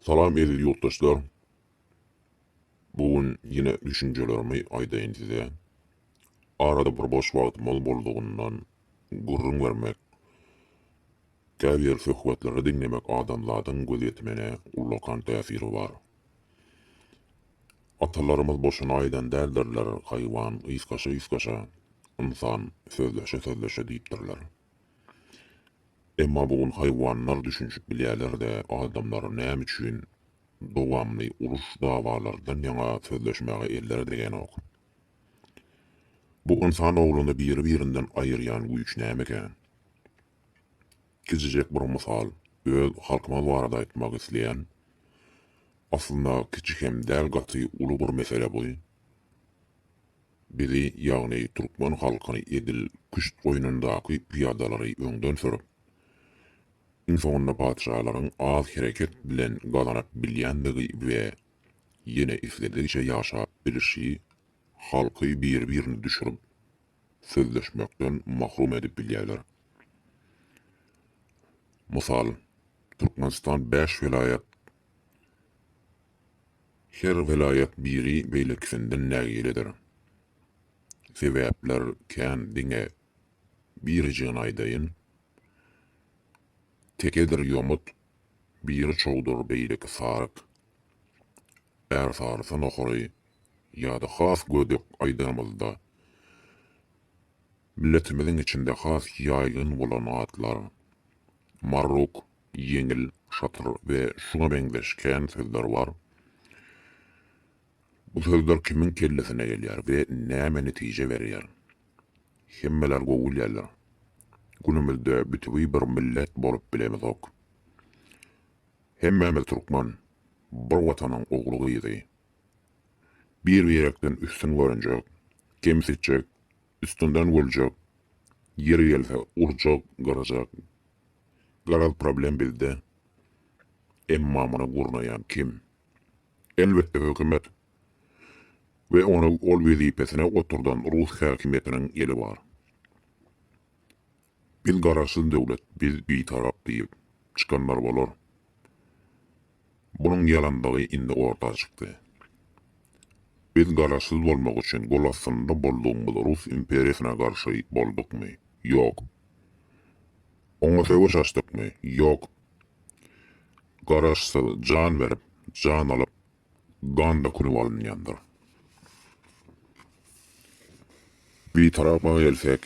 Salam eziz ýurtdaşlar. Bu gün ýene düşünjelerimi aýdaýyn size. Arada bir boş wagtymyz boldugyndan gürrüň bermek, käbir söhbetleri diňlemek adamzadyň gözýetimine ullakan täsiri bar. Atalarymyz boşuna aýdan däldirler, Haýwan ysgaşa-ysgaşa, ynsan sözleşe-sözleşe diýipdirler. Emma bu gün haýwanlar düşünişip bilýärler-de, adamlar näme üçin dowamly uruş-dawalardan ýaňa sözleşmäge elleri degänok? Bu ynsan oglany biri-birinden aýyrýan güýç nämeka? Kiçijek bir mysal, öz halkymyz barada aýtmak isleýän. Aslynda kiçi hem däl gaty uly bir mesele bu. Bizi, ýagny türkmen halkyny edil küşt goýnundaky pyýadalary öňden sürüp, iň soňunda patyşalaryň az hereket bilen gazanyp bilýändigi we ýene isledigiçe ýaşap bilişi, halky bir-birini düşürip, sözleşmekden mahrum edip bilýärler. Mysal, Türkmenistan bäş welaýat, Her welaýat biri beýlekisinden nägiledir. Sebäpler kän diňe birijigini aýdaýyn. Tekedir ýomut, biri çowdur beýleki saryk. Är sarysy nohary ýa-da has gödek aýdanymyzda milletimiziň içinde has ýaýgyn bolan atlar marruk, ýeňil, şatyr we şuňa meňzeş kän sözler bar. Bu sözler kimiň kellesine gelýär we näme netije berýär? Hemmeler gowy bilýärler. Günümizde bütewi bir millet bolup bilemizok. Hemmämiz türkmen, bir Watanyň ogly-gyzy. Bir-birekden üstün görünjek, kemsitjek, Üstünden güljek, ýeri gelse urjak, gyrjak. Garaz problem bizde. Emma muny gurnaýan kim? Elbetde hökümet we ony ol wezipesine oturdan rus häkimiýetiniň eli bar. Biz garaşsyz döwlet, biz bitarap diýip çykanlar bolar. Bunuň ýalandygy indi orta çykdy. Biz garaşsyz bolmak üçin gol astynda boldugymyz rus imperiýasyna garşy boldukmy? Ýok. Oňa söweş açdykmy? Ýok. Garaşsyz jan berip, jan alyp, gan dökülip alynýandyr. Bitarapa gelsek,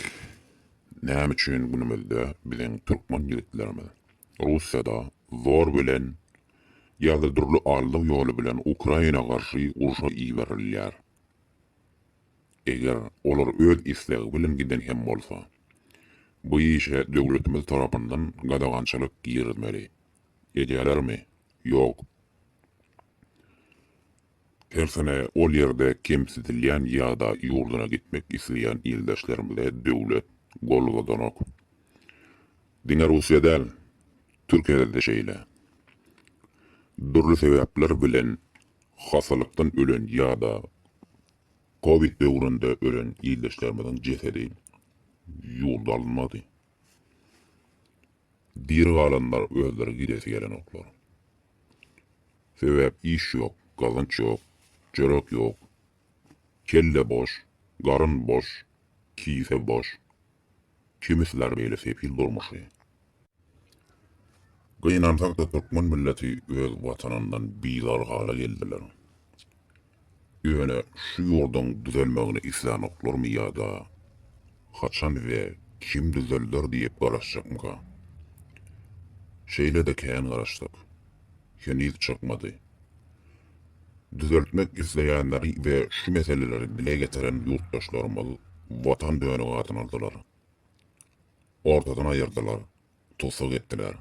näme üçin günümizde biziň türkmen ýigitlerimiz. Russiýada zor bilen ýa-da dürli aldaw ýoly bilen Ukraina garşy urşa iberilýär. Eger olar öz islegi bilen giden hem bolsa, bu işe döwletimiz tarapyndan gadagançylyk girizmeli. Edýärlermi? Ýok. Tersine ol ýerde kemsidilýän ýa-da ýurduna gitmek isleýän ildeşlerimize döwlet gol uzadanok. Diňe Russiýa däl, Türkiýede-de şeýle. Dürli sebäpler bilen hassalykdan ölen ýa-da covid döwründe ölen ildeşlerimiziň jesedi ýurda alynmady. Diri galanlar özleri gidesi gelenoklar. Sebäp iş ýok, gazanç ýok, çörek ýok. Kelle boş, garyn boş, kise boş. Kimi siler beýle sefil durmuşy. Gynansakda türkmen milleti öz watanyndan bizar hala geldiler. Ýöne şu ýurduň düzelmegini islänoklarmy ýa-da haçan we kim düzelder diýip garaşjakmyka? Şeýle-de kän garaşdyk. Heniz çykmady. Düzeltmek isleýänleri we şu meseleleri dile getiren ýurtdaşlarymyz Watan dönügi adyny aldylar. Ortadan aýyrdylar, tussag etdiler.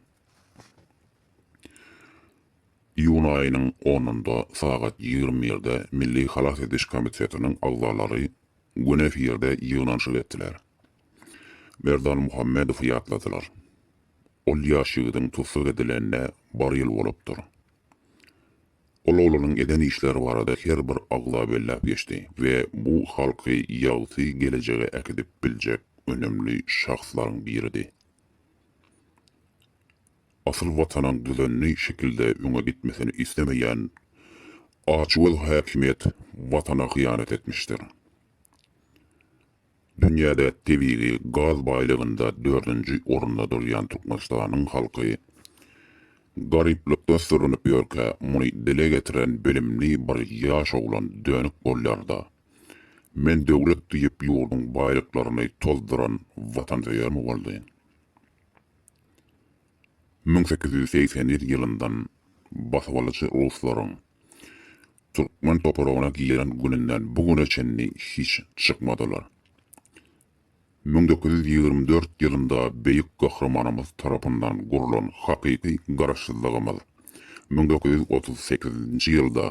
Iýun aýynyň onunda sagat ýigrimi birde Milli halas ediş komitetiniň agzalary gün efirde ýygnanyşyk etdiler. Merdan Muhammedowy ýatladylar. Ol ýaş ýigidiň tussag edilenine bir ýyl bolupdyr. Ol oglanyň eden işleri barada her bir agza belläp geçdi we bu halky ýagty gelejege äkidip biljek önemli şahslaryň biridi. Asyl Watanyň düzenli şekilde öňe gitmesini islemeýän açgöz häkimiýet Watana hyýanat etmişdir. Dünýäde tebigy gaz baýlygynda dördünji orunda durýan Türkmenistanyň halky garyplykda sürünip ýörkä, muny dile getiren bilimli bir ýaş oglan dönük bolýar-da, Men döwlet diýip ýurduň baýlyklaryny tozduran watansöýermi boldy? Müň sekiz ýüz segsen ýylyndan basybalyjy ruslaryň türkmen topragyna giren gününden bu güne çenli hiç çykmadylar. Müň dokuz ýüz ýigrimi dört ýylynda Beýik Gahrymanymyz tarapyndan gurlan hakyky Garaşsyzlygymyz müň dokuz ýüz otuz sekizinji ýylda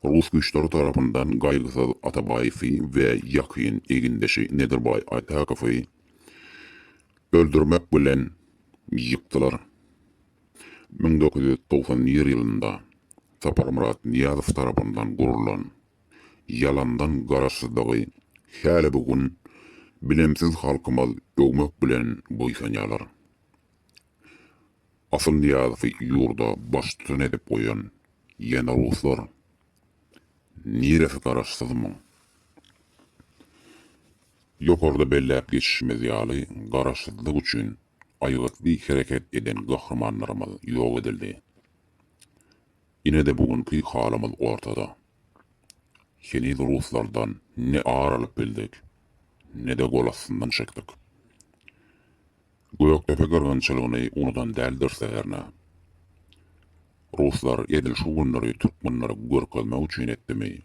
rus güýçleri tarapyndan Gaýgysyz Atabaýewi we ýakyn egindeşi Nedirbaý Aýtakowy öldürmek bilen ýykdylar. Müň dokuz ýüz togsan nji ýylynda Saparmyrat Nyýazow tarapyndan gurlan ýalandan Garaşsyzlygy häli bu gün bilimsiz halkymyz öwmek bilen buýsanýarlar. Asyl Nyýazowy ýurda baştutan edip goýan ýene ruslar. Niresi Garaşsyzmyň? Ýokarda belläp geçişimiz ýaly Garaşsyzlyk üçin aýgytly hereket eden gahrymanlarymyz ýok edildi. Ine-de bu günki halymyz ortada. Heniz ruslardan ne ar alyp bildik, ne-de gol astyndan çekdik. Gökdepe gyrgynçylygyny unudan däldiris-de hernä. Ruslar edil şu günleri türkmenlere görkezmek üçin etdimi,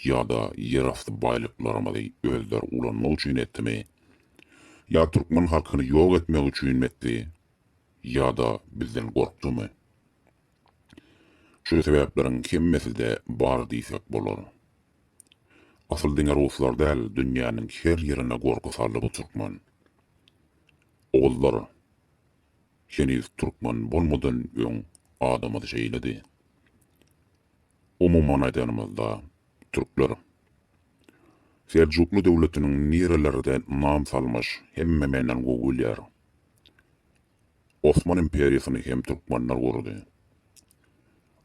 ýa-da ýerasty baýlyklarymyzy özleri ulanmak üçin etdimi? Ýa türkmen halkyny ýok etmek üçinmi etdi? Ýa-da bizden gorkdumy? Şu sebäpleriň hemmesi-de bar diýsek bolar. Asyl diňe ruslar däl, dünýäniň her ýerine gorky saldy bu türkmen. Ogullar, heniz türkmen bolmadan öň adamyz şeýledi. Umuman aýdanymyzda, türkler Seljukly döwletiniň nirelerde nam salmyş, hemme menden gowy bilýär. Osman imperiýasyny hem türkmenler gurdy.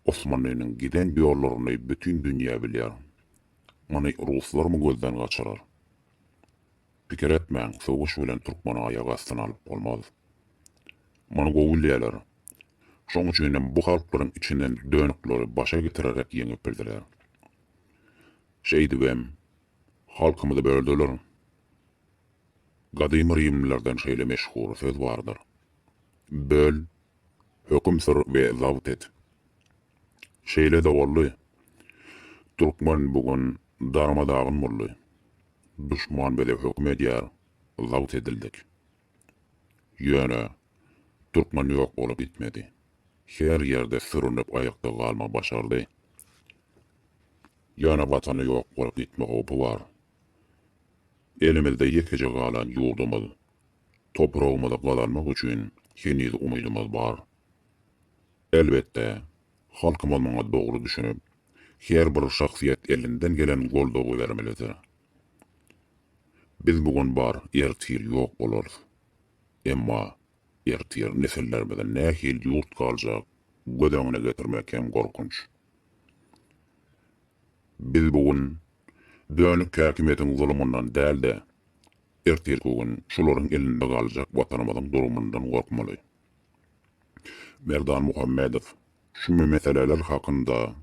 Osmanlynyň giden ýollaryny bütin dünýä bilýär. Muny ruslarmy gözden gaçyrar? Pikir etmäň sögüş bilen türkmeni aýak astyna alyp bolmaz. Mongoliýalar şoň üçin hem bu halklaryň içinden dönükleri başa getirerek ýeňip bildiler. Şeýdibem halkymyzy böldiler. Gadymy rimlilerden şeýle meşhur söz bardyr. Böl, höküm sür we zabt et. Şeýle-de boldy. Türkmen bu gün darma-dagyn boldy. Duşman bize höküm edýär, zabt edildik. Ýöne, türkmen ýok bolup gitmedi. Her ýerde sürünip aýakda galma başardy. Ýöne Watany ýok bolup gitme howpy bar. Elimizde ýekeje galan ýurdumyz, topragymyzy gazanmak üçin heniz umydymyz bar. Elbetde, Halkymyz muňa dogry düşünip, her bir şahsyýet elinden gelen goldawy bermelidir. Biz bu gün bar, ertir ýok bolarys. Emma ertir nesillerimize nähili ýurt galjak, göz öňüne getirmek hem gorkunç. Biz bu gün dönük häkimiýetiň zulumyndan däl-de, ertirki gün şolaryň elinde galjak Watanymyzyň durumyndan gorkmaly. Merdan Muhammedow şu meseleler hakynda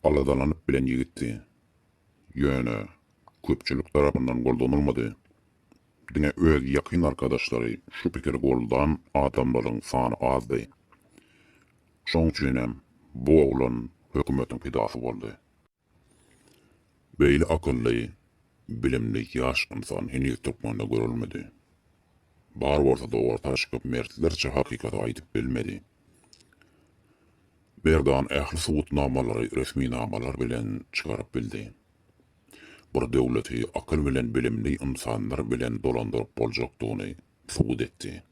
aladalanyp bilen ýigitdi. Ýöne köpçülik tarapyndan goldanylmady. Diňe öz ýakyn arkadaşlary şu pikiri goldan adamlaryň sany azdy. Şoň üçinem bu oglan hökümetiň pidasy boldy. Beýle akylly, bilimli ýaş ynsan heniz türkmende görülmedi. Bar bolsa-da orta çykyp mertlerçe hakykaty aýdyp bilmedi. Merdan ähli subutnamalary resminamalar bilen çykaryp bildi. Bir döwleti akyl bilen bilimli ynsanlar bilen dolandyryp boljakdygyny subut etdi.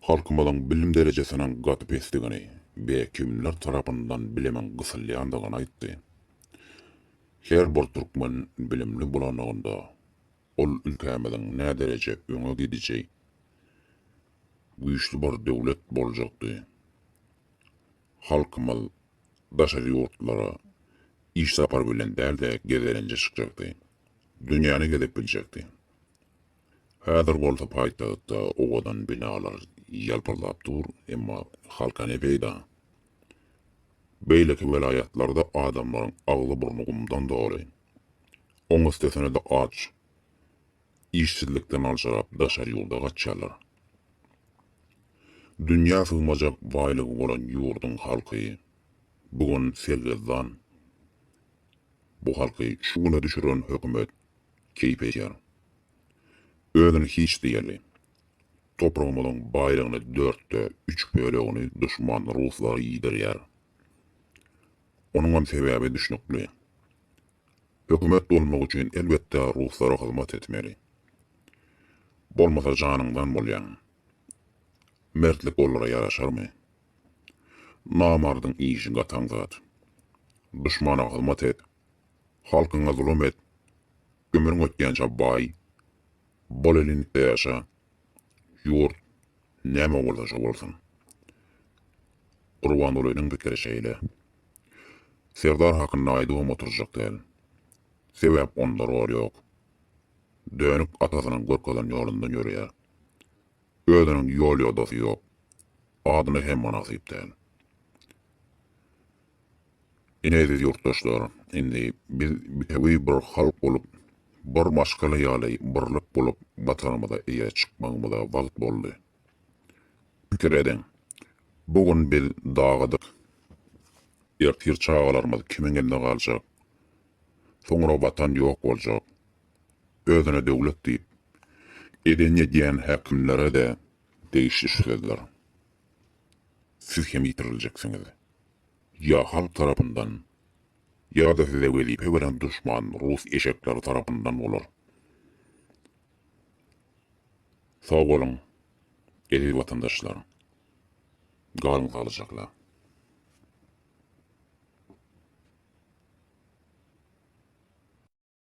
Halkymyzyň bilim derejesiniň gaty pesdigini we kimler tarapyndan bilimiň gysylýandygyny aýtdy. Her bir türkmen bilimli bolanlygynda, ol ülkämiziň nädereje öňe gidiji, güýçli bir döwlet boljakdy. Halkymyz daşary ýurtlara iş sapary bilen däl-de gezelenje çykjakdy. Dünýäni gezip biljekdi. Häzir bolsa paýtagtda owadan binalar ýalpyldap dur, emma halka ne peýda? Beýleki welaýatlarda adamlaryň agzy-burny gumdan doly. Oň üstesine-de aç, işsizlikden aljyrap daşary ýurda gaçýarlar. Dünýä sygmajak baýlygy bolan ýurduň halky bu gün sergezdan. Bu halky şu güne düşüren hökümet keýp edýär. Özüni hiç diýeli. Topragymyzyň baýlygyny dörtde üç bölegini duşman ruslar iýdirýär. Onuňam sebäbi düşnükli. Hökümet bolmak üçin elbetde ruslara hyzmat etmeli. Bolmasa janyňdan bolýaň. Mertlik olara ýaraşarmy? Namardyň işi gataň zat. Duşmana hyzmat et, Halkyňa zulum et. Ömrüň ötýänçä baý. Bolelindikçe ýaşa. Ýurt näme bolsa şo bolsun. Gurbangulynyň pikiri şeýle. Serdar hakynda aýdybam oturjak däl. Sebäp onda rol ýok. Dönük atasynyň görkezen ýolundan ýöreýär. Özüniň ýol ýodasy ýok. Adyna hem mynasyp däl. Ine eziz ýurtdaşlar, indi biz bitewi bir halk bolup, bir maşgala ýaly birlik bolup Watanymyza eýe çykmagymyza wagt boldy. Pikir ediň, bu gün biz dagadyk, ertir çagalarymyz kimiň elinde galjak, soňra Watan ýok boljak. Özüne döwlet diýip, edeni edýän häkimlere-de degişli şu sözler. Siz hem ýitiriljeksiňiz. Ýa halk tarapyndan, ýa-da size wezipe beren duşman rus eşekleri tarapyndan bolar. Sag boluň, eziz watandaşlar. Galyň saglyjakla.